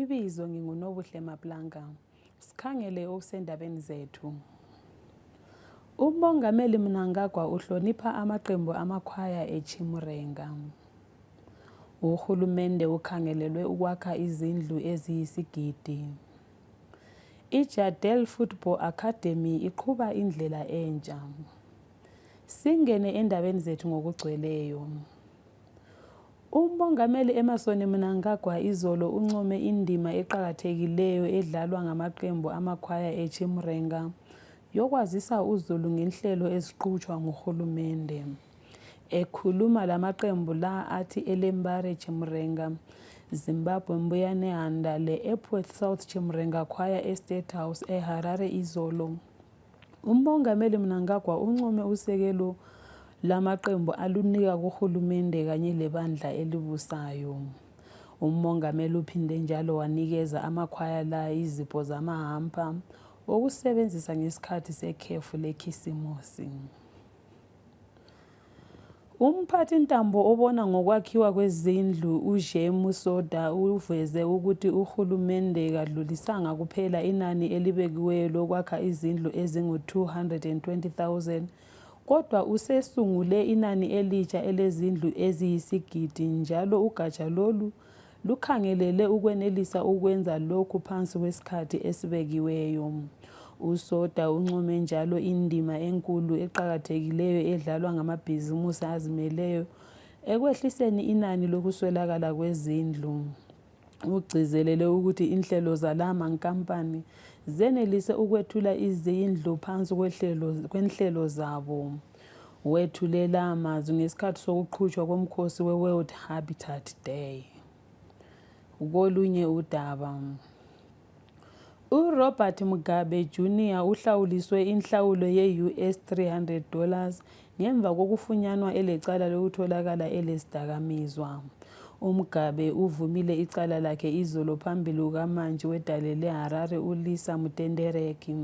Ibizo nginguNobuhle Maplanka. Sikhangele okusendabeni zethu. UMongameli Mnangagwa uhlonipha amaqembu amakhwaya eChimurenga. Uhulumende ukhangelelwe ukwakha izindlu eziyisigidi. IJadel Football Academy iqhuba indlela entsha. Singene endabeni zethu ngokugcweleyo. UMongameli Emerson Mnangagwa izolo uncome indima eqakathekileyo edlalwa ngamaqembu amakhwaya eChimrenga yokwazisa uzulu ngenhlelo eziqutshwa nguhulumende. Ekhuluma lamaqembu la athi Elembare Chimrenga, Zimbabwe Mbuyanehanda le-Epworth South Chimrenga Choir eState House eHarare izolo. Umongameli Mnangagwa uncome usekelo lamaqembu alunika kuhulumende kanye lebandla elibusayo. Umongameli uphinde njalo wanikeza amakhwaya la izipho zamahampa okusebenzisa ngesikhathi sekhefu lekhisimusi. Umphathintambo obona ngokwakhiwa kwezindlu uZhe Musoda uveze ukuthi uhulumende kadlulisanga kuphela inani elibekiweyo lokwakha izindlu ezingu-220,000 kodwa usesungule inani elitsha elezindlu eziyisigidi njalo ugatsha lolu lukhangelele ukwenelisa ukwenza lokhu phansi kwesikhathi esibekiweyo usoda uncome njalo indima enkulu eqakathekileyo edlalwa ngamabhizimusi azimeleyo ekwehliseni inani lokuswelakala kwezindlu ugcizelele ukuthi inhlelo zala mankampani zenelise ukwethula izindlu phansi kwenhlelo zabo Wethule la mazwi ngesikhathi sokuqhutshwa komkhosi we-World Habitat Day. Kolunye udaba uRobert Mugabe Jr. uhlawuliswe inhlawulo ye-US 300 dollars ngemva kokufunyanwa elecala lokutholakala elesidakamizwa. UMugabe uvumile icala lakhe izolo phambili kukamantshi wedale leHarare uLisa Mutendereki.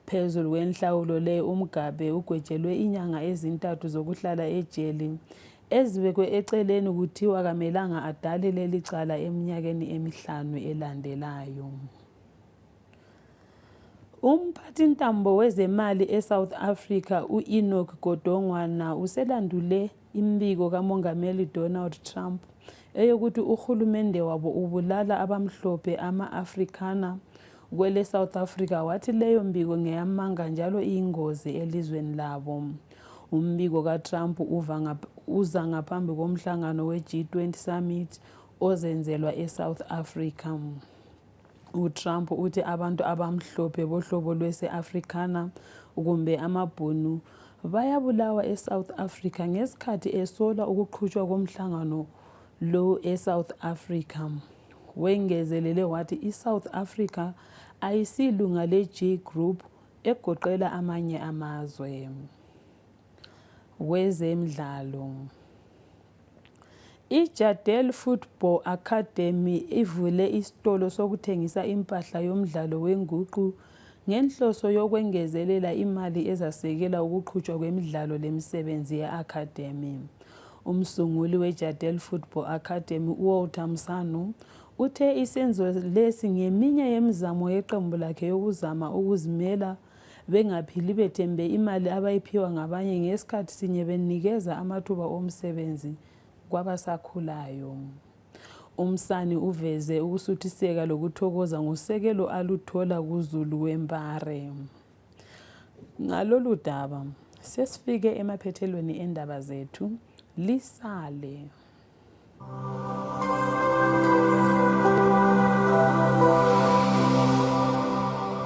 Phezulu kwenhlawulo le uMgabe ugwetshelwe inyanga ezintathu zokuhlala ejele ezibekwe eceleni kuthiwa kamelanga adale leli cala eminyakeni emihlanu elandelayo. Umphathintambo wezemali eSouth Africa u-Enoch Godongwana uselandule imbiko kamongameli Donald Trump eyokuthi uhulumende wabo ubulala abamhlophe ama-Afrikaner kwele South Africa wathi leyo mbiko ngeyamanga njalo iyingozi elizweni labo. Umbiko kaTrump uza ngaphambi komhlangano we-G20 Summit ozenzelwa eSouth Africa. uTrump uthi abantu abamhlophe bohlobo lwese-Africana kumbe amabhunu bayabulawa eSouth Africa ngesikhathi esola ukuqhutshwa komhlangano lo eSouth Africa. Wengezelele wathi iSouth Africa ayisilunga le-G Group egoqela amanye amazwe. Kwezemidlalo iJadel Football Academy ivule isitolo sokuthengisa impahla yomdlalo wenguqu ngenhloso yokwengezelela imali ezasekela ukuqhutshwa kwemidlalo lemisebenzi ye-academy. Umsunguli weJadel Football Academy uWalter Msanu uthe isenzo lesi ngeminye yemizamo yeqembu lakhe yokuzama ukuzimela bengaphili bethembe imali abayiphiwa ngabanye ngesikhathi sinye benikeza amathuba omsebenzi kwabasakhulayo umsani uveze ukusuthiseka lokuthokoza ngosekelo aluthola kuzulu wembare ngalolu daba sesifike emaphethelweni endaba zethu lisale